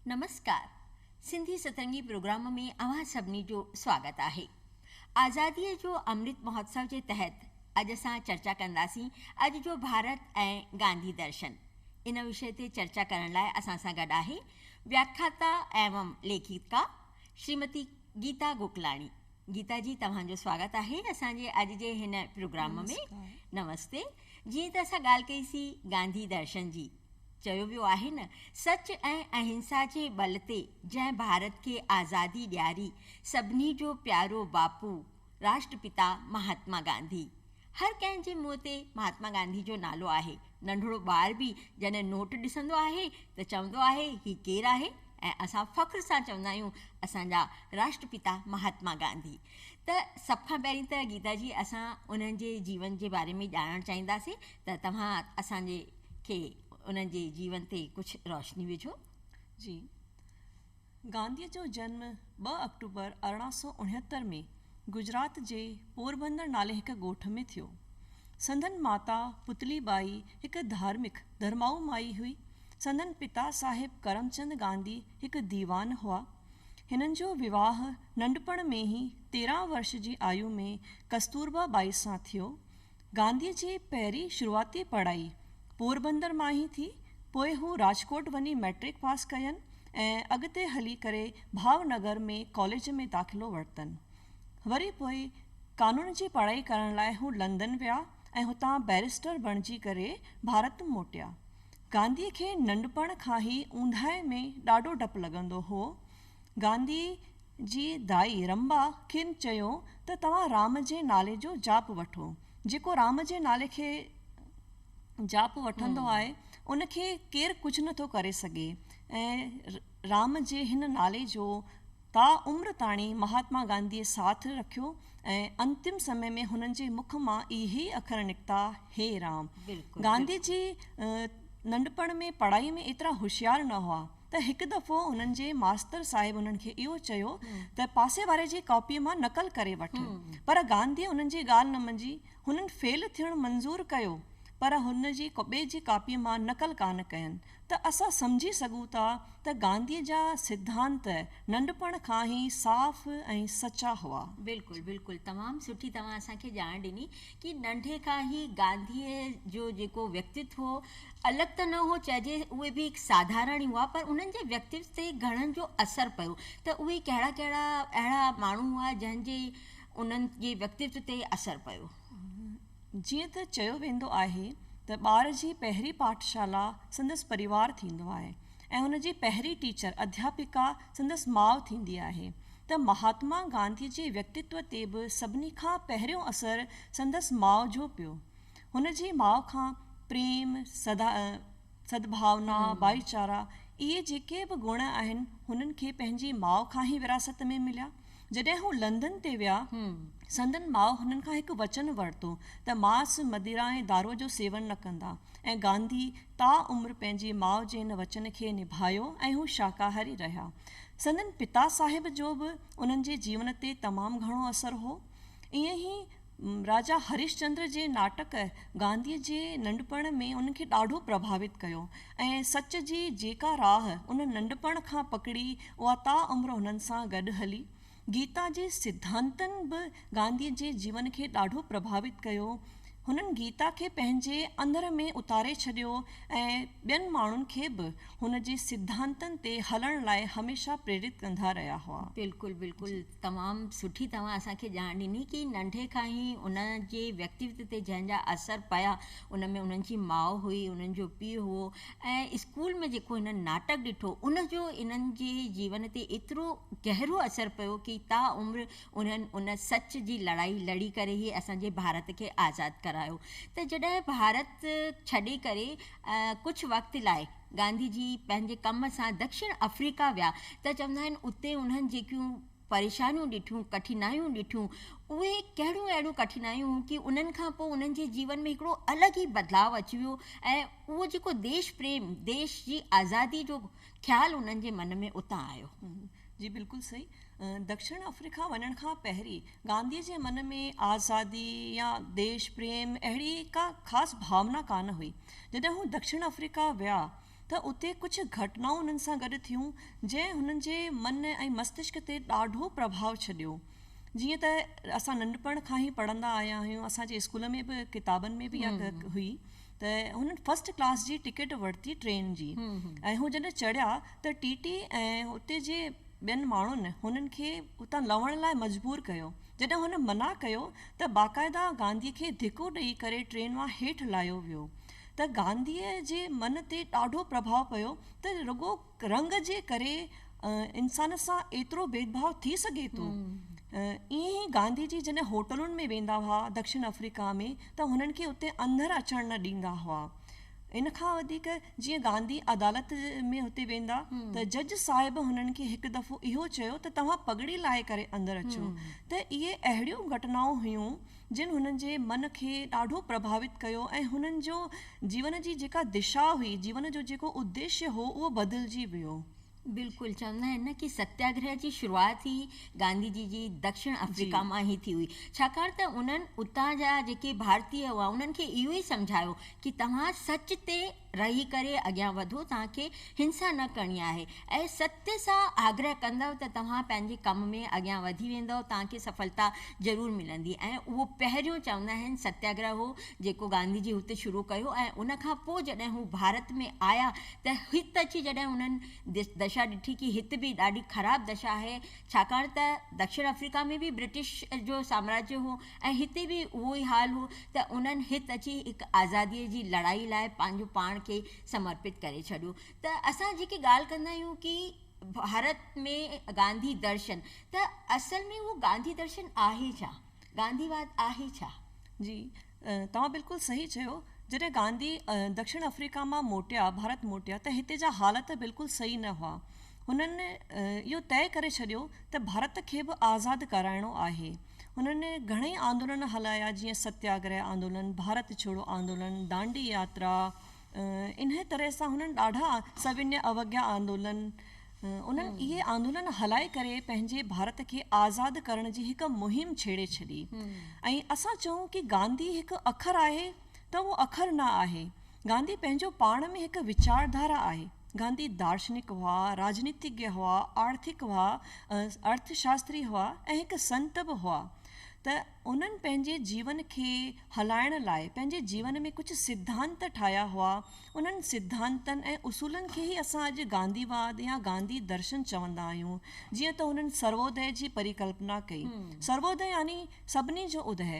نمسڪار Sindhi Satrangi programme ۾ اوهان سڀني جو سواگت آهي آزادي جو امرت مهوتسو جي تحت اڄ اسان چرچا ڪنداسين اڄ جو ڀارت ۽ گانڌي درشن ان وشي تي چرچا ڪرڻ لاء اسان سان گڏ آهي وياکاتا ايوم ليکڪا شريمتي گيتا گوڪلاڻي گيتا جي توهان جو سواگت آهي اسان جي اڄ جي هن پروگرام ۾ نمستي جيئن ته اسان ڳالهه ڪئي سي گانڌي درشن جي چيو ويو آهي نه سچ ۽ اهنسا جي ٻل تي جنهن ڀارت کي آزادي ڏياري سڀني جو پيارو باپو راشٽرپتا مهاتما گانڌي، هر ڪنهن جي منهن تي مهاتما گانڌي جو نالو آهي، ننڍڙو ٻار به جڏهن نوٽ ڏسندو آهي ته چوندو آهي هي ڪير آهي ۽ اسان فخر سان چوندا آهيون اسان جا راشٽرپتا مهاتما گانڌي ته سڀ کان پهرين ته گيتا جي اسان انهن جي جيون جي باري ۾ ڄاڻڻ چاهينداسي ته توهان اسان جي کي انهن جي جيون تي ڪجهه روشني وجهو. جي. گانڌيء جو جنم ٻه آڪٽوبر ارڙهن سؤ اڻهتر ۾ گجرات جي پوربندر نالي هڪ ڳوٺ ۾ ٿيو. سندن ماتا پتلي ٻائي هڪ ڌارمڪ، ڌرمائو مائي هئي. سندن پتا صاحب ڪرمچند گانڌي هڪ ديوان هئا. هنن جو وواهه ننڍپڻ ۾ ئي تيرهن ورش جي آيو ۾ ڪستوربا ٻائي سان ٿيو. گانڌيء جي پهرين شروعاتي پڙهائي پوربندر مان ئي ٿي، پوء هو راجڪوٽ وڃي مئٽرڪ پاس ڪين ۽ اڳتي هلي ڪري ڀاونگر ۾ ڪاليج ۾ داخلو ورتن. وري پوء قانون جي پڙهائي ڪرڻ لاء هو لندن ويا ۽ هتان بئريسٽر بڻجي ڪري ڀارت موٽيا. گانڌيء کي ننڍپڻ کان ئي اونداهي ۾ ڏاڍو ڊپ لڳندو هو گانڌيء جي دائي رنبا کين چيو ته توهان رام جي نالي جو جاپ وٺو. جيڪو رام جي نالي کي جاپ وٺندو آهي، ان کي ڪير ڪجهه نه ٿو ڪري سگهي ۽ رام جي هن نالي جو تا عمر تاڻي مهاتما گانڌيء ساٿ رکيو ۽ انتم سمي ۾ هنن جي مک مان اهي ئي اکر نڪتا، هي رام. گانڌي جي ننڍپڻ ۾ پڙهائيء ۾ ايترا هوشيار نه هئا. ته هڪ دفعو انهن جي ماستر صاحب انهن کي اهو چيو ته پاسي واري جي ڪاپيء مان نقل ڪري وٺ. پر گانڌيء انهن جي ڳالهه نه منجي، هنن فيل ٿيڻ منظور ڪيو، پر هن جي ڪوٻي جي ڪاپيء مان نقل ڪانه ڪين، ته اسان سمجهي سگهون ٿا ته گانڌيء جا سڌانت ننڍپڻ کان ئي صاف ۽ سچا هئا. بلڪل بلڪل تمام سٺي توهان اسان کي ڄاڻ ڏني. کي ننڍي کان ئي گانڌيء جو جيڪو ويڪتتو هو، الڳ ته نه هو چئجي، اهي به هڪ ساڌارڻ ئي هئا، پر انهن جي ويڪتتو تي گهڻن جو اثر پيو ته اهي ڪهڙا ڪهڙا اهڙا ماڻهو هئا، جنهن جي انهن جي ويڪتتو تي اثر پيو. جيئن ته چيو ويندو آهي ته ٻار جي پهرين پاٺشالا سندس پريوار ٿيندو آهي، ۽ هن جي پهرين ٽيچر اڌياپڪا سندس ماء ٿيندي آهي ته مهاتما گانڌي جي ويڪتتو تي به سڀني کان پهريون اثر سندس ماء جو پيو. هن جي ماء کان پريم، سدا، سدڀاونا، ڀائي چارا اهي جيڪي به گڻ آهن هنن کي پنهنجي ماء کان هي وراثت ۾ مليا. جڏهن هو لندن تي ويا، سندن ماء هنن کان هڪ وچن ورتو ته ماس، مديرا ۽ دارو جو سيون نه ڪندا ۽ گانڌي تا عمر پنهنجي ماء جي ان وچن کي نڀايو ۽ هو شاڪاهاري رهيا. سندن پتا صاحب جو به انهن جي جيون تي تمام گهڻو اثر هو. ائين ئي راجا هريش چندر جي ناٽڪ گانڌيء جي ننڍپڻ ۾ انهن کي ڏاڍو پرڀاوت ڪيو ۽ سچ جي جيڪا راهه انهن ننڍپڻ کان پڪڙي اها تا عمر انهن سان گڏ هلي. گيتا جي سڌانتن به گانڌيء جي جيون کي ڏاڍو پرڀاوت ڪيو. هنن گيتا کي پنهنجي اندر ۾ اتاري ڇڏيو ۽ ٻين ماڻهن کي به هن جي سڌانتن تي هلڻ لاء هميشه پريرت ڪندا رهيا هئا. بلڪل بلڪل. تمام سٺي توهان اسان کي ڄاڻ ڏني ڪي ننڍي کان ئي ان جي ويڪتيوت تي جنهن جا اثر پيا ان ۾ انهن جي ماء هئي انهن جو پيء هئو ۽ اسڪول ۾ جيڪو هنن ناٽڪ ڏٺو ان جو انهن جي جيون تي ايترو گهرو اثر پيو ڪي تا عمر انهن ان سچ جي لڙائي لڙي ڪري هي اسان جي ڀارت کي آزاد ڪرايو ته جڏهن ڀارت ڇڏي ڪري ڪجهه وقت لاء گانڌي جي پنهنجي ڪم سان دڪشڻ آفريڪا ويا ته چوندا آهن اتي انهن جيڪيون پريشانيون ڏٺيون، ڪٺنايون ڏٺيون، اهي ڪهڙيون اهڙيون ڪٺنايون هيون ڪي انهن کان پوء انهن جي جيون ۾ هڪڙو الڳ ئي بدلاء اچي ويو ۽ اهو جيڪو ديش پريم، ديش جي آزادي جو خيال انهن جي من ۾ اتان آيو. جي بلڪل صحيح. دکڻ آفريڪا وڃڻ کان پهرين گانڌيء جي من ۾ آزادي يا ديش پريم اهڙي ڪا خاص ڀاونا ڪانه هئي. جڏهن هو دکڻ آفريڪا ويا ته اتي ڪجهه گهٽنائون انهن سان گڏ ٿيون جنهن هنن جي من ۽ مستشڪ تي ڏاڍو پرڀاء ڇڏيو. جيئن ته اسان ننڍپڻ کان ئي پڙهندا آيا آهيون، اسان جي اسڪول ۾ به ڪتابن ۾ به اها ڳالهه هئي. ته هنن فرسٽ ڪلاس جي ٽڪيٽ ورتي ٽرين جي ۽ هو جڏهن چڙهيا ته ٽي ٽي ۽ اتي جي ٻين ماڻهن هنن کي اتان لهڻ لاء مجبور ڪيو جڏهن هن منع ڪيو ته باقاعده گانڌي کي ڌڪو ڏئي ڪري ٽرين مان هيٺ لاهيو ويو ته گانڌي جي من تي ڏاڍو پرڀاء پيو ته رڳو رنگ جي ڪري انسان سان ايترو ڀيدڀاء ٿي سگهي ٿو؟ ائين ئي گانڌي جي جڏهن هوٽلن ۾ ويندا هئا دڪشن آفريڪا ۾ ته هنن کي اتي اندر اچڻ نه ڏيندا هئا. ان کان وڌيڪ جيئن گانڌي عدالت ۾ هتي ويندا ته جج صاحب هنن کي هڪ دفعو اهو چيو ته توهان پڳڙي لاهي ڪري اندر اچو ته اهي اهڙيون گهٽنائون هيون جن هنن جي من کي ڏاڍو پرڀاوت ڪيو ۽ هنن جو جيون جي جيڪا دشا هئي، جيون جو جيڪو اديشيه هو، اهو بدلجي ويو. بلڪل چوندا آهن نه ڪي ستياگرهه جي شروعات ئي گانڌي جي جي دڪشڻ جي. آفريڪا مان ئي ٿي هئي ڇاڪاڻ ته انهن اتان جا جيڪي ڀارتيه هئا انهن کي اهو ئي سمجهايو ڪي توهان سچ تي رهي ڪري اڳيان وڌو توهان کي هنسا نه ڪرڻي آهي ۽ ستيء سان آگرهه ڪندؤ ته توهان پنهنجي ڪم ۾ اڳيان وڌي ويندؤ توهان کي سڦلتا ضرور ملندي ۽ اهو پهريون چوندا آهن ستياگرهه هو جيڪو گانڌي جي هت شروع ڪيو ۽ ان کان پوء جڏهن هو ڀارت ۾ آيا ته هت اچي جڏهن هنن دشا ڏٺي ڪي هت به ڏاڍي خراب دشا آهي ڇاڪاڻ ته دکشڻ آفريڪا ۾ به برٽش جو سامراجيه هو ۽ هتي به اهو ئي حال هو ته انهن هت اچي هڪ آزاديء جي لڙائي لاء پنهنجو پاڻ کي سمرپت ڪري ڇڏيو ته اسان جيڪي ڳالهه ڪندا آهيون ڪي ڀارت ۾ گانڌي درشن ته اصل ۾ اهو گانڌي درشن آهي ڇا؟ گانڌي واد آهي ڇا؟ جي توهان بلڪل صحيح چيو جڏهن گانڌي دڪشڻ آفريڪا مان موٽيا ڀارت موٽيا ته هتي جا حالت بلڪل صحيح نه هئا هنن اهو طئي ڪري ڇڏيو ته ڀارت کي به آزاد ڪرائڻو آهي هنن گهڻئي آندولن هلايا جيئن ستياگره آندولن، ڀارت ڇوڙو آندولن، دانڊي ياترا انهيء طرح سان هنن ڏاڍا سوينيه اوگيا آندولن انهن اهي آندولن هلائي ڪري پنهنجي ڀارت کي آزاد ڪرڻ جي هڪ مهم ڇيڙي ڇڏي ۽ اسان چئون ڪي گانڌي هڪ اکر آهي ته اهو اکر نه آهي. گانڌي پنهنجو پاڻ ۾ هڪ ويچارڌارا آهي. گانڌي دارشنڪ هئا، راڄنيتيگيه هئا، آرٿڪ هئا، ارٿ شاستري هئا ۽ هڪ سنت به هئا ته انهن پنهنجي جيون کي هلائڻ لاء پنهنجي جيون ۾ ڪجهه سڌانت ٺاهيا هئا. انهن سڌانتن ۽ اصولن کي ئي اسان اڄ گانڌي واد يا گانڌي درشن چوندا آهيون. جيئن ته هنن سرووديه جي پريڪلپنا ڪئي. سرووديه يعني سڀني جو اديه.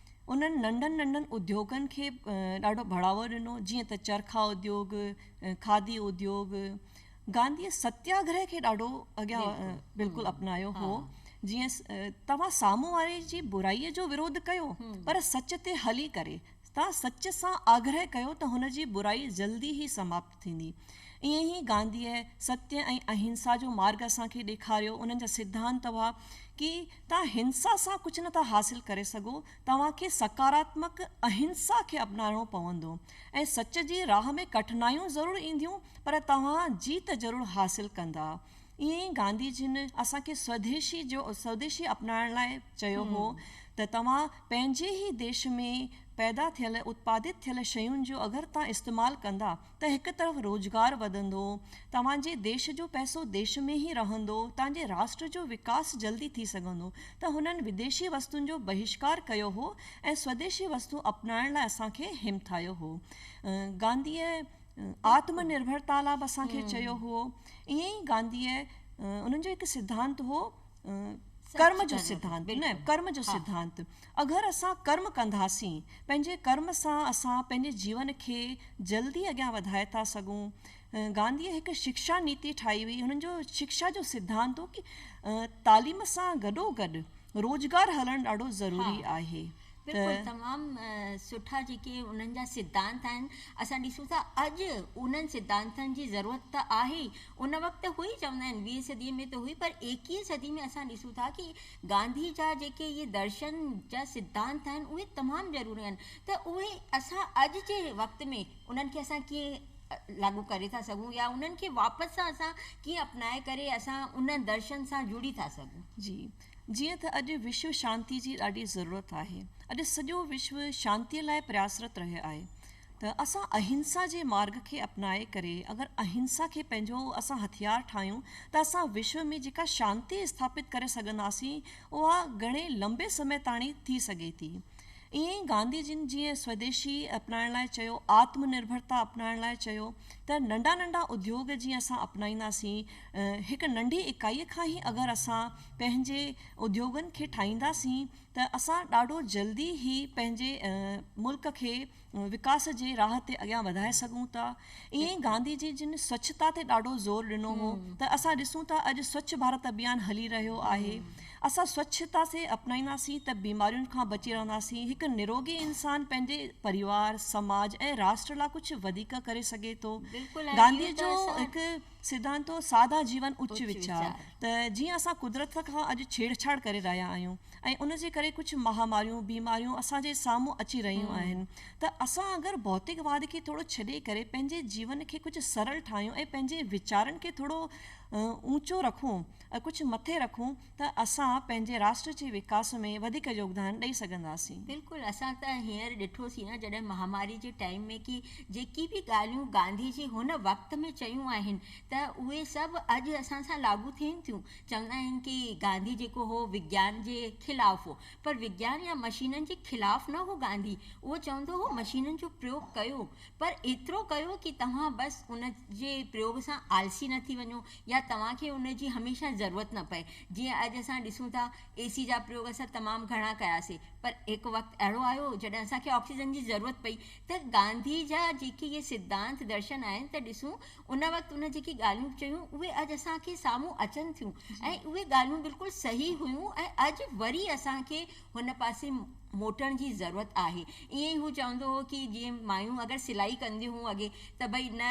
انهن ننڍن ننڍن اديوگن کي ڏاڍو بڙاوو ڏنو جيئن ته چرخا اديوگ، کاڌي اديوگ، گانڌيء ستياگرهه کي ڏاڍو اڳيان بلڪل اپنايو هو جيئن توهان سامهون واري جي برائي جو ورود ڪيو پر سچ تي هلي ڪري توهان سچ سان آگرهه ڪيو ته هن جي برائي جلدي ئي سماپت ٿيندي. ائين ئي گانڌيء ستيء ۽ اهنسا جو مارڳ اسان کي ڏيکاريو. انهن جا سڌانت هئا ڪي توهان هنسا سان ڪجهه نٿا حاصل ڪري سگهو، توهان کي سڪاراتمڪ اهنسا کي اپنائڻو پوندو ۽ سچ جي راهه ۾ ڪٺنايون ضرور اينديون پر توهان جيت ضرور حاصل ڪندا. ائين ئي گانڌي جن اسان کي سوديشي جو سوديشي اپنائڻ لاء چيو هو ته توهان پنهنجي ئي ديش ۾ پيدا ٿيل اتپادت ٿيل شين جو اگر توهان استعمال ڪندا ته هڪ طرف روزگار وڌندو توهان جي ديش جو پئسو ديش ۾ ئي رهندو توهان جي راشٽر جو وڪاس جلدي ٿي سگهندو ته هنن وديشي وستون جو بهشڪار ڪيو هو ۽ سوديشي وستون اپنائڻ لاء اسان کي همٿايو هو گانڌيء آتم نرڀرتا لاء به اسان کي چيو هو. ائين ئي گانڌيء انهن جو هڪ سڌانت هو ڪرم جو سڌانت نه ڪرم جو سڌانت اگر اسان ڪرم ڪنداسين پنهنجي ڪرم سان اسان پنهنجي جيون کي جلدي اڳيان وڌائي ٿا سگهون گانڌيء هڪ شڪشا نيتي ٺاهي هئي انهن جو شڪشا جو سڌانت هو ڪي تعليم سان گڏو گڏ روزگار هلڻ ڏاڍو ضروري آهي بلڪل تمام سٺا جيڪي انهن جا سڌانت آهن اسان ڏسون ٿا اڄ انهن سڌانتن جي ضرورت ته آهي ئي ان وقت هئي چوندا آهن ويهين صدي ۾ ته هئي پر ايڪيهين صدي ۾ اسان ڏسون ٿا ڪي گانڌي جا جيڪي اهي درشن جا سڌانت آهن اهي تمام ضروري آهن ته اهي اسان اڄ جي وقت ۾ انهن کي اسان ڪيئن لاڳو ڪري ٿا سگهون يا انهن کي واپس سان اسان ڪيئن اپنائي ڪري اسان انهن درشن سان جڙي ٿا سگهون. جي جيئن تھ اڄ وشو شانتي جي ڏاڍي ضرورت آھي، اڄ سڄو وشو شانتي لاء پرياسرت رھيو آھي تھ اسان اھنسا جي مارڳ کي اپنائي ڪري اگر اھنسا کي پنھنجو اسان ھٿيار ٺاھيون تھ اسان وشو ۾ جيڪا شانتي اسٿاپت ڪري سگھنداسين اھا گھڻي لنبي سمي تاڻي ٿي سگھي ٿي. ائين ئي گانڌي جن جيئن سوديشي اپنائڻ لاء چيو، آتم نرڀرتا اپنائڻ لاء چيو تھ ننڍا ننڍا اديوگ جيئن اسان اپنائينداسين، هڪ ننڍي اڪائي کان ئي اگر اسان پنهنجي اديوگن کي ٺاهينداسين ته اسان ڏاڍو جلدي ئي پنهنجي ملڪ کي وڪاس جي راهه تي اڳيان وڌائي سگهون ٿا. ائين ئي گانڌي جي جن سوڇتا تي ڏاڍو زور ڏنو هو ته اسان ڏسون ٿا اڄ سوڇ ڀارت اڀيان هلي رهيو آهي. اسان سوڇتا کي اپنائينداسين ته بيمارين کان بچي رهنداسين. هڪ نروگي انسان پنهنجي پريوار، سماج ۽ راشٽر لاء ڪجهه وڌيڪ ڪري سگهي ٿو. گانڌي جو هڪ. سڌانتو، سادا جيون اچ ويچار ته جيئن اسان قدرت کان اڄ ڇيڙ ڇاڙ ڪري رهيا آهيون ۽ ان جي ڪري ڪجهه مهاماريون، بيماريون اسان جي سامهون اچي رهيون آهن ته اسان اگر ڀوتڪ واد کي ٿورو ڇڏي ڪري پنهنجي جيون کي ڪجهه سرل ٺاهيون ۽ پنهنجي ويچارن کي ٿورو اونچو رکون ڪجهه مٿي رکون ته اسان پنهنجي راشٽر جي وڪاس ۾ وڌيڪ يوگدان ڏئي سگهنداسين. بلڪل اسان ته هينئر ڏٺو سين نه جڏهن مهاماري جي ٽائيم ۾ ڪي جيڪي به ڳالهيون گانڌي جي هن وقت ۾ چيون آهن ته اهي سڀ اڄ اسان سان لاڳو ٿين ٿيون چوندا آهن ڪي گانڌي جيڪو هو وگيان جي خلاف هو پر وگيان يا مشينن جي خلاف نه هو گانڌي اهو چوندو هو مشينن جو پريوگ ڪيو پر ايترو ڪيو ڪي توهان بس ان جي پريوگ سان آلسي نه ٿي وڃو يا توهان کي ان جي هميشه ضرورت نه پئي، جيئن اڄ اسان ڏسون ٿا، اي سي جا پريوگ اسان تمام گهڻا ڪياسي، پر هڪ وقت اهڙو آيو جڏهن اسان کي آڪسيجن جي ضرورت پئي ته گانڌي جا جيڪي اهي سڌانت درشن آهن ته ڏسون ان وقت ان جيڪي ڳالهيون چيون اهي اڄ اسان کي سامهون اچن ٿيون ۽ اهي ڳالهيون بلڪل صحيح هيون ۽ اڄ وري اسان کي هن پاسي موٽڻ جي ضرورت آهي. ائين ئي هو چوندو هو ڪي جيئن مايون اگر سلائي ڪنديون هون اڳي ته ڀئي نه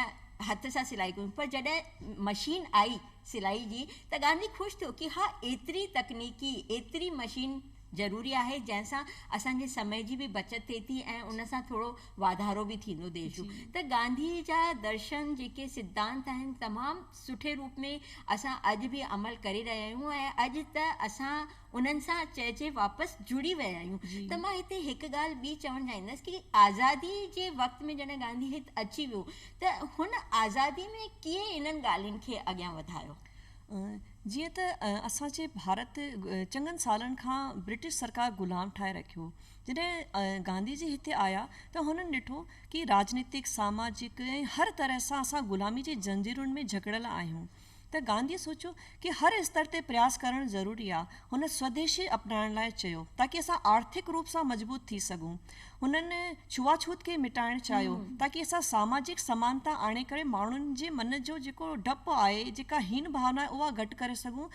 هٿ سان سلائي ڪيون پر جڏهن مشين آئي سلائي جي ته گانڌي خوش ٿيو ڪي ها ايتري تڪنيڪي ايتري مشين ضروري آهي جنهن سان اسان جي سمي جي به بچت ٿئي ٿي ۽ ان سان ٿورو واڌارو به ٿيندو ديش جو ته گانڌي جا درشن جيڪي سڌانت آهن تمام سٺي روپ ۾ اسان اڄ به عمل ڪري رهيا آهيون ۽ اڄ ته اسان انهن سان چئجي واپس جڙي ويا آهيون ته مان هتي هڪ ڳالهه ٻي چوڻ چاهيندس ڪي آزادي جي وقت ۾ جڏهن گانڌي هت اچي ويو ته هن آزادي ۾ ڪيئي انهن ڳالهين کي اڳيان وڌايو؟ جيئن ته اسان جي ڀارت چڱن سالن کان برٽش سرڪار غلام ٺاهي رکيو جڏهن گانڌي جي هتي آيا ته هنن ڏٺو ڪي راجنيتڪ ساماجڪ ۽ هر طرح سان اسان غلامي جي زنجيرن ۾ جڪڙيل آهيون ته گانڌيء سوچيو ڪي هر استر تي پرياس ڪرڻ ضروري آ. هن سوديشي اپنائڻ لاء چيو تاڪي اسان آرٿڪ روپ سان مضبوط ٿي سگهون. هنن ڇوئاڇوت کي مٽائڻ چاهيو تاڪي اسان ساماجڪ سمانتا آڻي ڪري ماڻهن جي من جو جيڪو ڊپ آهي، جيڪا هين ڀاونا آهي اها گهٽ ڪري سگهون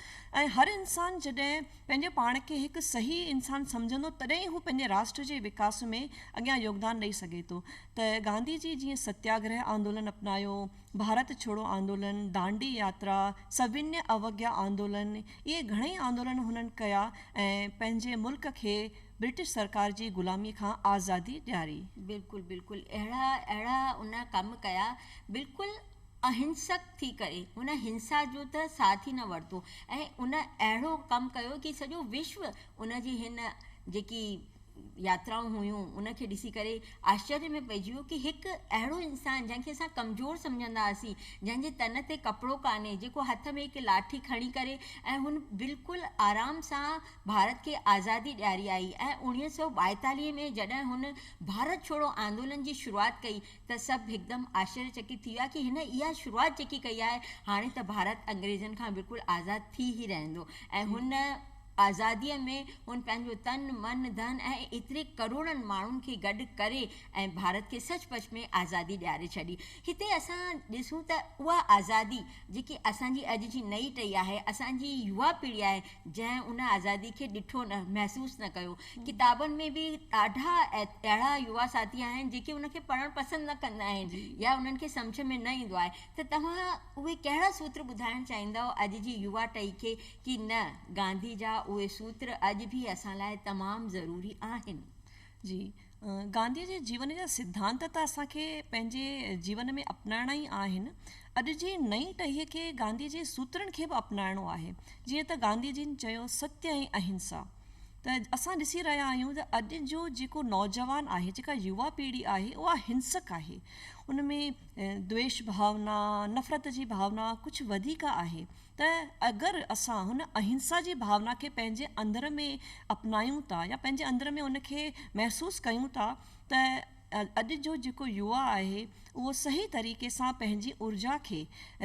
۽ هر انسان جڏهن پنهنجي پاڻ کي هڪ صحيح انسان سمجهندو تڏهن ئي هو پنهنجي راشٽر جي وڪاس ۾ اڳيان يوگدان ڏئي سگهي ٿو ته گانڌي جي جيئن ستياگرهه آندولن اپنايو، ڀارت ڇوڙو آندولن، دانڊي ياترا، سوينيه اوگيا آندولن، اهي گهڻئي آندولن هنن ڪيا ۽ پنهنجي ملڪ کي برٽش سرڪار جي غلامي کان آزادي ڏياري. بلڪل بلڪل اهڙا اهڙا ان ڪم ڪيا بلڪل اهنسڪ ٿي ڪري هن هنسا جو ته ساٿ ئي نه ورتو ۽ ان اهڙو ڪم ڪيو ڪي سڄو وشو ان جي هن جيڪي ياترائون هيون ان کي ڏسي ڪري آشچريه ۾ پئجي ويو ڪي هڪ اهڙو انسان جنهن کي اسان ڪمزور سمجهندا هئاسين جنهن جي تن تي ڪپڙو ڪانهي جيڪو هٿ ۾ هڪ لاٺي کڻي ڪري ۽ هن بلڪل آرام سان ڀارت کي آزادي ڏياري آئي ۽ اوڻيهه سؤ ٻائيتاليهه ۾ جڏهن هن ڀارت ڇوڙو آندولن جي شروعات ڪئي ته سڀ هڪدم آشچريه چڪت ٿي ويا ڪي هن اها شروعات جيڪي ڪئي آهي هاڻي ته ڀارت انگريزن کان بلڪل آزاد ٿي ئي رهندو ۽ هن آزاديء ۾ هن پنهنجو تن، من، ڌن ۽ ايتري ڪروڙن ماڻهن کي گڏ ڪري ۽ ڀارت کي سچ پچ ۾ آزادي ڏياري ڇڏي. هتي اسان ڏسون ته اها آزادي جيڪي اسان جي اڄ جي نئين ٽهي آهي، اسان جي يوا پيڙهي آهي، جنهن ان آزادي کي ڏٺو نه، محسوس نه ڪيو. ڪتابن ۾ به ڏاڍا اهڙا يوا ساٿي آهن، جيڪي ان کي پڙهڻ پسند نه ڪندا آهن يا انهن کي سمجهه ۾ نه ايندو آهي ته توهان اهي ڪهڙا سوتر ٻڌائڻ چاهيندؤ اڄ جي يوا ٽهي کي، ڪي نه، گانڌي جا اهي سوتر اڄ به اسان لاء تمام ضروري آهن. جي گانڌيء جي جيون جا سڌانت ته اسان کي پنهنجي جيون ۾ اپنائڻا ئي آهن. اڄ جي نئين ٽهيء کي گانڌيء جي سوترن کي به اپنائڻو آهي. جيئن ته گانڌي جن چيو ستيا ۽ اهنسا ته اسان ڏسي رهيا آهيون ته اڄ جو جيڪو نوجوان آهي جيڪا يوا پيڙهي آهي اها هنسڪ آهي ان ۾ دويش ڀاونا نفرت جي ڀاونا ڪجهه وڌيڪ آهي. ته اگر اسان هن اهنسا جي ڀاونا کي پنهنجي اندر ۾ اپنايون ٿا يا پنهنجي اندر ۾ ان کي محسوس ڪيون ٿا ته اڄ جو جيڪو يوا آهي اهو صحيح طريقي سان پنهنجي اورجا کي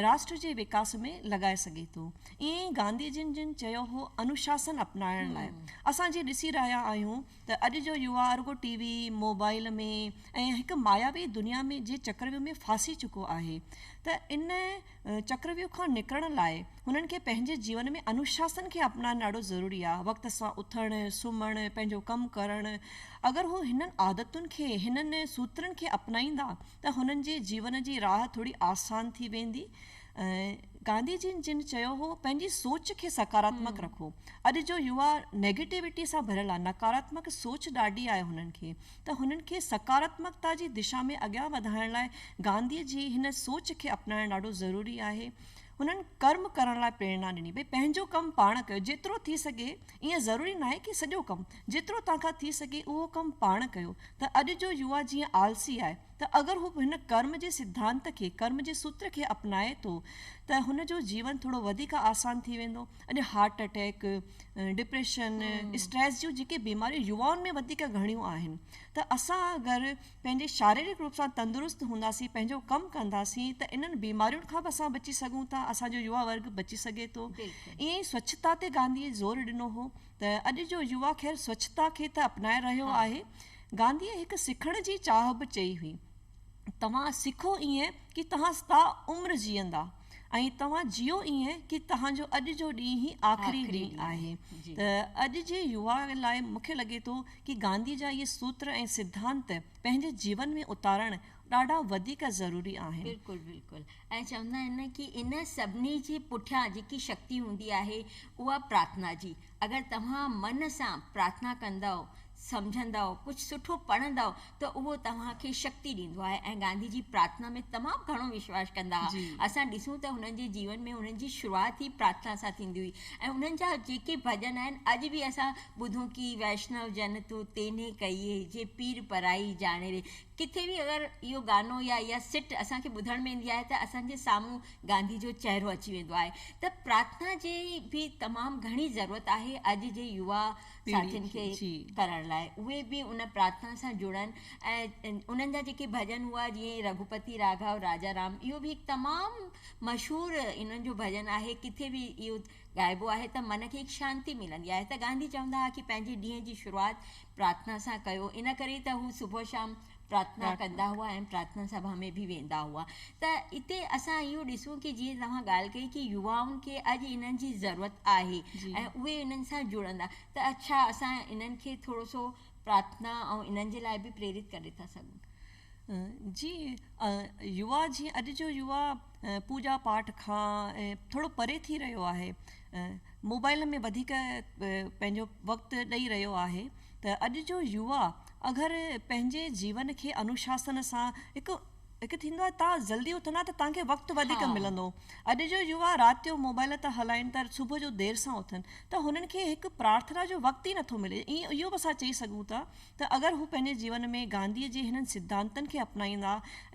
راشٽر جي وڪاس ۾ لڳائي سگهي ٿو. ائين ئي گانڌي جن جن چيو هو انوشاسن اپنائڻ لاء اسان جي ڏسي رهيا آهيون ته اڄ جو يوا رڳو ٽي وي، موبائيل ۾ ۽ هڪ ماياوي دنيا ۾ جي چڪرويو ۾ ڦاسي چڪو آهي ته ان چڪرويو کان نڪرڻ لاء هنن کي پنهنجي جيون ۾ انوشاسن کي اپنائڻ ڏاڍو ضروري آهي. وقت سان اٿڻ، سمهڻ، پنهنجو ڪم ڪرڻ. اگر هو هنن عادتن کي، هنن سوترن کي اپنائيندا ته هنن جي جيون جي راهه ٿوري آسان ٿي ويندي. گانڌي جين جن چيو هو پنهنجي سوچ کي سڪاراتمڪ رکو. اڄ جو يووا نيگيٽيوٽي سان ڀريل آهي، نڪاراتمڪ سوچ ڏاڍي آهي هنن کي. ته هنن کي سڪاراتمڪتا جي دشا ۾ اڳيان وڌائڻ لاء گانڌيء جي هن سوچ کي اپنائڻ ڏاڍو ضروري آهي. هنن ڪرم ڪرڻ لاء پريرنا ڏني، ڀئي پنهنجو ڪم پاڻ ڪيو، جيترو ٿي سگهي، ائين ضروري ناهي ڪي سڄو ڪم، جيترو توهان کان ٿي سگهي اهو ڪم پاڻ ڪيو، ته اڄ جو يوا جيئن آلسي آهي، ته اگر هو به هن ڪرم جي سڌانت کي، ڪرم جي سوتر کي اپنائي ٿو، ته هن جو جيون ٿورو وڌيڪ آسان ٿي ويندو. اڄ هارٽ اٽيڪ، ڊپريشن، اسٽريس جون جيڪي بيماريون يوائن ۾ وڌيڪ گهڻيون آهن ته اسان اگر پنهنجي شاريرڪ روپ سان تندرست هونداسين پنهنجو ڪم ڪنداسين ته انهن بيمارين کان به اسان بچي سگهون ٿا اسان جو يووا ورگ بچي سگهي ٿو ائين ئي سوڇتا تي گانڌي زور ڏنو هو ته اڄ جو يووا خير سوڇتا کي ته اپنائي رهيو آهي گانڌي هڪ سکڻ جي چاهه به چئي هئي توهان سکو ائين ڪي توهان ستا عمر جيئندا ۽ توهان جيئو ائين ڪي توهان جو اڄ جو ڏينهن ئي آخري ڏينهن آهي ته اڄ جي يوا لاء مون کي لڳي ٿو ڪي گانڌي جا اهي سوتر ۽ سڌانت پنهنجي جيون ۾ اتارڻ ڏاڍا وڌيڪ ضروري آهن. بلڪل بلڪل ۽ چوندا آهن ڪي ان سڀني جي پٺيان جيڪي شڪتي هوندي آهي اها پرارٿنا جي اگر توهان من سان پرارٿنا ڪندؤ، سمجهندؤ، ڪجهه سٺو پڙهندؤ ته اهو توهان کي شڪتي ڏيندو آهي ۽ گانڌي جي پرارٿنا ۾ تمام گهڻو وشواس ڪندا هئا. جي. اسان ڏسون ته هنن جي جيون ۾ هنن جي شروعات ئي پرارٿنا سان ٿيندي هئي ۽ انهن جا جيڪي ڀڄن آهن اڄ به اسان ٻڌون ڪي ويشنو جن تون تينهي ڪيئي جي پير پرائي ڄاڻي ري. ڪٿي به اگر اهو گانو يا اها سٽ اسان کي ٻڌڻ ۾ ايندي آهي ته اسان جي سامهون گانڌي جو چهرو اچي ويندو آهي ته پرارٿنا جي به تمام گهڻي ضرورت آهي اڄ جي يوا ساٿين کي ڪرڻ لاء اهي به ان پرارٿنا سان جڙن ۽ انهن جا جيڪي ڀڄن هئا جيئن رگهوپتي راگهو راجا رام اهو به هڪ تمام مشهور انهن جو ڀڄن آهي ڪٿي به اهو ڳائبو آهي ته من کي هڪ شانتي ملندي آهي ته گانڌي چوندا هئا ڪي پنهنجي ڏينهن جي شروعات پرارٿنا سان ڪيو ان ڪري ته هو صبح شام پرارٿنا ڪندا هئا ۽ پرارٿنا سڀا ۾ به ويندا هئا ته اتي اسان اهو ڏسون ڪي جيئن توهان ڳالهه ڪئي ڪي يوائن کي اڄ انهن جي ضرورت آهي ۽ اهي انهن سان جڙندا ته اڇا اسان انهن کي ٿورو سو پرارٿنا ۽ انهن جي لاء به پريرت ڪري ٿا سگهون. جي يوا جيئن اڄ جو يوا پوڄا پاٺ کان ٿورو پري ٿي رهيو آهي موبائل ۾ وڌيڪ پنهنجو وقت ڏئي رهيو آهي ته اڄ جو يوا اگر پنهنجي جيون کي انوشاسن سان هڪ هڪ ٿيندو آهي تان جلدي اٿندا ته تانکي وقت وڌيڪ ملندو اڄ جو يوا رات جو موبائل ته هلائن ته صبح جو دير سان اٿن ته هنن کي هڪ پرارٿنا جو وقت ئي نٿو ملي اهو به اسان چئي سگهون ٿا ته اگر هو پنهنجي جيون ۾ گانڌيء جي هنن سڌانتن کي اپنائيندا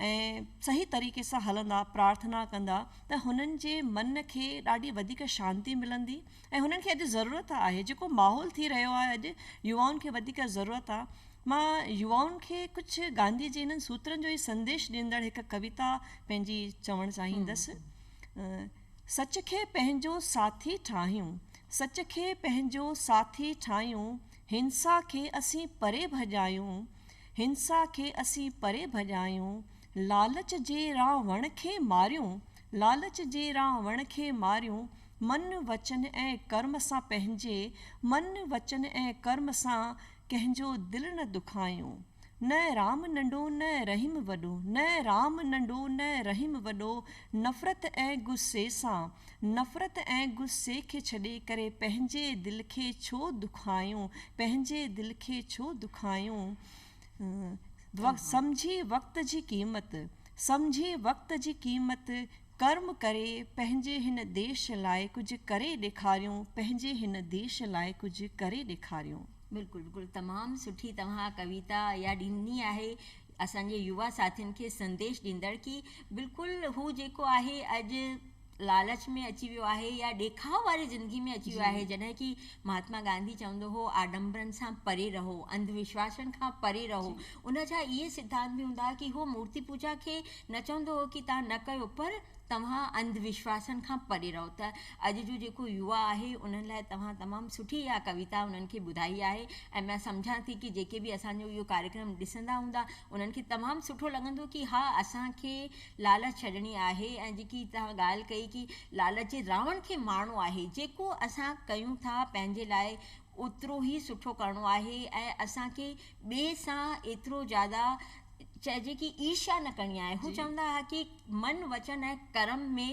۽ صحيح طريقي سان هلندا، پرارٿنا ڪندا ته هنن جي من کي ڏاڍي وڌيڪ شانتي ملندي ۽ هنن کي اڄ ضرورت آهي، جيڪو ماحول ٿي رهيو آهي اڄ يوائن کي وڌيڪ ضرورت آهي. مان يوائن کي ڪجهه گانڌيء جي هنن سوترن جو ئي سنديش ڏيندڙ هڪ ڪويتا پنهنجي چوڻ چاهيندس، سچ کي پنهنجو ساٿي ٺاهيون، سچ کي پنهنجو ساٿي ٺاهيون، هنسا کي اسين پري ڀڄايون، هنسا کي اسين پري ڀڄايون، لالچ جي را وڻ کي ماريون، لالچ جي را وڻ کي ماريون، من، وچن ۽ ڪرم سان پنهنجي، من، وچن ۽ ڪرم سان ڪنهن جو دل نه دکايون. نه رام ننڍو نه رحيم وڏو. نه رام ننڍو نه رحيم وڏو نفرت ۽ غصي سان نفرت ۽ غصي کي ڇڏي ڪري پنهنجي دل کي ڇو دکايون پنهنجي دل کي ڇو دکايون سمجهي وقت جي قيمت سمجهي وقت جي قيمت ڪرم ڪري پنهنجي هن ديش لاء ڪجهه ڪري ڏيکاريون پنهنجي هن ديش لاء ڪجهه ڪري ڏيکاريون. بلڪل بلڪل تمام سٺي توهان ڪويتا اها ڏني آهي اسان جي يوا ساٿين کي سنديش ڏيندڙ ڪي بلڪل هو جيڪو آهي اڄ لالچ ۾ اچي ويو آهي يا ڏيکاء واري زندگي ۾ اچي ويو آهي جڏهن ڪي مهاتما گانڌي چوندو هو آڏمبرن سان پري رهو انڌ وشواسن کان پري رهو ان جا اهي سڌانت به هوندا هئا ڪي هو مورتي پوجا کي نه چوندو هو ڪي تان نه ڪيو پر توهان انڌ وشواسن کان پري رهو ته اڄ جو جيڪو يوا آهي انهن لاء توهان تمام سٺي اها ڪويتا انهن کي ٻڌائي آهي ۽ مان سمجهان ٿي ڪي جيڪي به اسان جو اهو ڪاريڪرم ڏسندا هوندا انهن کي تمام سٺو لڳندو ڪي ها اسان کي لالچ ڇڏڻي آهي ۽ جيڪي توهان ڳالهه ڪئي ڪي لالچ جي راوڻ کي مارڻو آهي جيڪو اسان ڪيون ٿا پنهنجي لاء اوترو ئي سٺو ڪرڻو آهي ۽ اسان کي ٻئي سان ايترو زياده چئجي ڪي عيرشا نه ڪرڻي آهي هو چوندا ها ڪي من وچن ۽ ڪرم ۾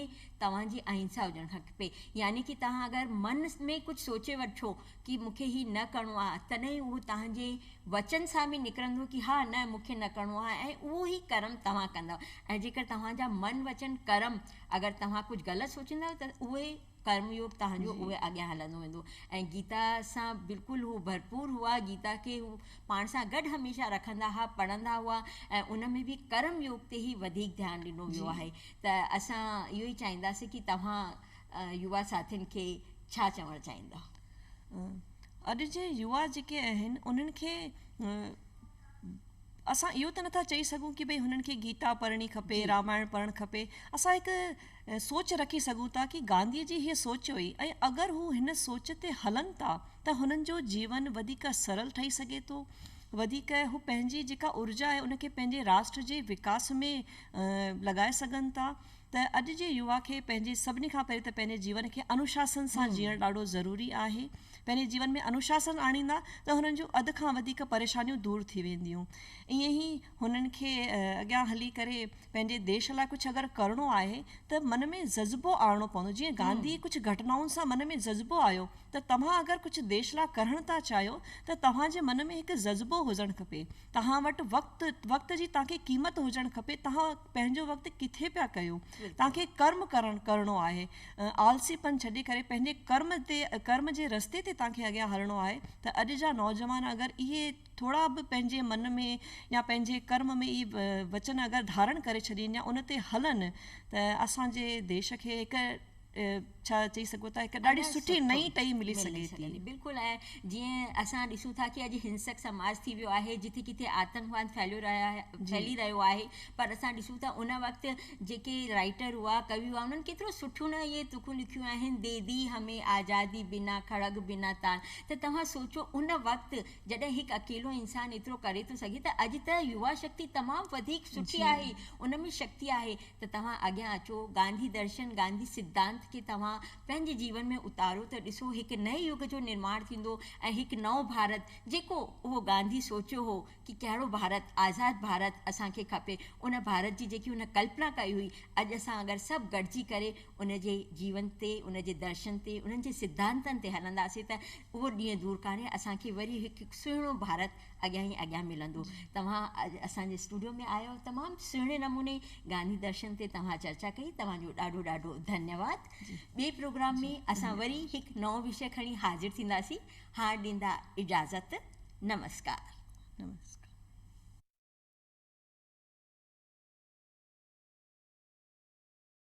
توهان جي اهنسا هجڻ کپي يعني ڪي توهان اگر من ۾ ڪجهه سوچي وٺو ڪي مون کي هي نه ڪرڻو آهي تڏهن ئي اهو توهان جي وچن سان به نڪرندو ڪي ها نه مون کي نه ڪرڻو آهي ۽ اهو ئي ڪرم توهان ڪندؤ ۽ جيڪر توهان جا من وچن ڪرم اگر توهان ڪجهه غلط سوچيندا ته اهي ڪرم يوگ تهان جو اهي اڳيان هلندو ويندو ۽ گيتا سان بلڪل هو ڀرپور هئا گيتا کي هو پاڻ سان گڏ هميشه رکندا ها پڙهندا هئا ۽ ان ۾ به ڪرم يوگ تي هي وڌيڪ ڌيان ڏنو ويو آهي ته اسان اهو ئي چاهينداسين ڪي توهان يوا ساٿين کي ڇا چوڻ چاهيندا اڄ جي يوا جيڪي آهن انهن کي اسان اهو ته نٿا چئي سگهون ڪي ڀئي هنن کي گيتا پڙهڻي کپي رامائڻ پڙهڻ کپي اسان هڪ سوچ رکي سگهون ٿا ڪي گانڌي جي هيء سوچ هئي ۽ اگر هو هن سوچ تي هلن ٿا ته هنن جو جيون وڌيڪ سرل ٺهي سگهي ٿو وڌيڪ هو پنهنجي جيڪا ارجا آهي ان کي پنهنجي راشٽر جي وڪاس ۾ لڳائي سگهن ٿا ته اڄ جي يوا کي پنهنجي سڀني کان پهرين ته پنهنجي جيون کي انوشاسن سان جيئڻ ڏاڍو ضروري آهي پنهنجي جيون ۾ انوشاسن آڻيندا ته هنن جون اڌ کان وڌيڪ پريشانيون دور ٿي وينديون ائين ئي هنن کي اڳيان هلي ڪري پنهنجي ديش لاء ڪجهه اگر ڪرڻو آهي ته من ۾ جذبو آڻڻو پوندو جيئن گانڌي ڪجهه گهٽنائن سان من ۾ جذبو آيو ته توهان اگر ڪجهه ديش لاء ڪرڻ ٿا چاهيو ته توهان جي من ۾ هڪ جذبو هجڻ کپي توهان وٽ وقت وقت جي توهان کي قيمت هجڻ کپي توهان پنهنجو وقت ڪٿي پيا ڪيو توهان کي ڪرم ڪرڻ ڪرڻو آهي آلسي پن ڇڏي ڪري پنهنجي ڪرم تي ڪرم جي رستي تي توهان کي اڳيان هلڻو آهي ته اڄ جا نوجوان اگر اهي ٿورا به پنهنجي من ۾ يا پنهنجي ڪرم ۾ اهي وچن اگر ڌارڻ ڪري ڇڏين يا ان تي هلن ته اسان جي ديش کي هڪ ڇا چئي سگهو ٿا هڪ ڏاڍي سٺي نئين ٽهي ملي سگهي ٿي. بلڪل ائين جيئن اسان ڏسون ٿا ڪي اڄ هنسڪ سماج ٿي ويو آهي جٿي ڪٿي آتنڪواد ڦهليو رهيو آهي ڦهلي رهيو آهي پر اسان ڏسون ٿا ان وقت جيڪي رائيٽر هئا ڪوي هئا انهن ڪيترو سٺيون نه اهي تکون لکيون آهن ديدي همي آزادي بنا کڙگ بنا تان ته توهان سوچو ان وقت جڏهن هڪ اڪيلو انسان ايترو ڪري ٿو سگهي ته اڄ ته يوا شڪتي تمام وڌيڪ سٺي آهي ان ۾ شڪتي آهي ته توهان اڳيان اچو گانڌي درشن گانڌي سڌانت کي توهان پنهنجي جيون ۾ اتارو ته ڏسو هڪ نئين يگ جو نرماڻ ٿيندو ۽ هڪ نئون ڀارت جيڪو اهو گانڌي سوچيو هو ڪي ڪهڙو ڀارت آزاد ڀارت اسان کي کپي ان ڀارت جي جيڪي هن ڪلپنا ڪئي هئي اڄ اسان اگر سڀ گڏجي ڪري ان جي جيون تي، ان جي درشن تي، انهن جي سڌانتن تي هلنداسين ته اهو ڏينهن دور ڪانهي اسان کي وري هڪ سهڻو ڀارت اڳيان ئي اڳيان ملندو. توهان اڄ اسان جي اسٽوڊيو ۾ آيو تمام سهڻي نموني گانڌي درشن تي توهان چرچا ڪئي توهان جو ڏاڍو ڏاڍو ڌنيواد. ٻئي پروگرام ۾ اسان وري هڪ نئون وشي کڻي حاضر ٿينداسين. هاڻ ڏيندا اجازت. نمسڪار. نمسڪار.